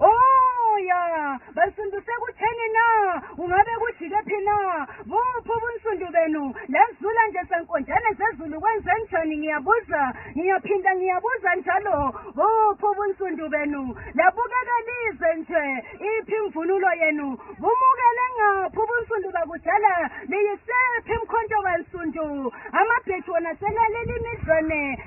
Oh ya, bansundu sekutheni na? Ungabe kujike phi na? Buphi ubunsundu benu? Lezula nje senkonjane zezulu kwenze njani ngiyabuza, ngiyaphinda ngiyabuza njalo. Buphi ubunsundu benu? Labukeka lize nje, iphi imvunulo yenu? Bumukele ngaphi ubunsundu bakudala? Liyisephi imkhonto kansundu? Amabhethi wona selaleli imidlwane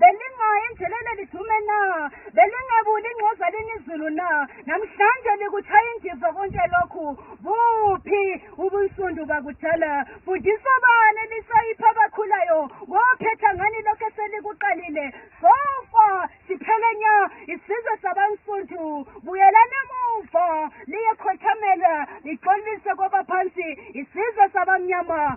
belingayi endleleni elidume na belingebuli ingxoza linizulu na namhlanje likuthaya indiva konke lokhu buphi ubunsundu bakudala fundisa bani elisayipha abakhulayo wophetha ngani lokhu eselikuqalile sofa siphele nya isizwe sabansundu buyelani emuva liyekhothamela lixolise kwabaphansi isizwe sabamnyama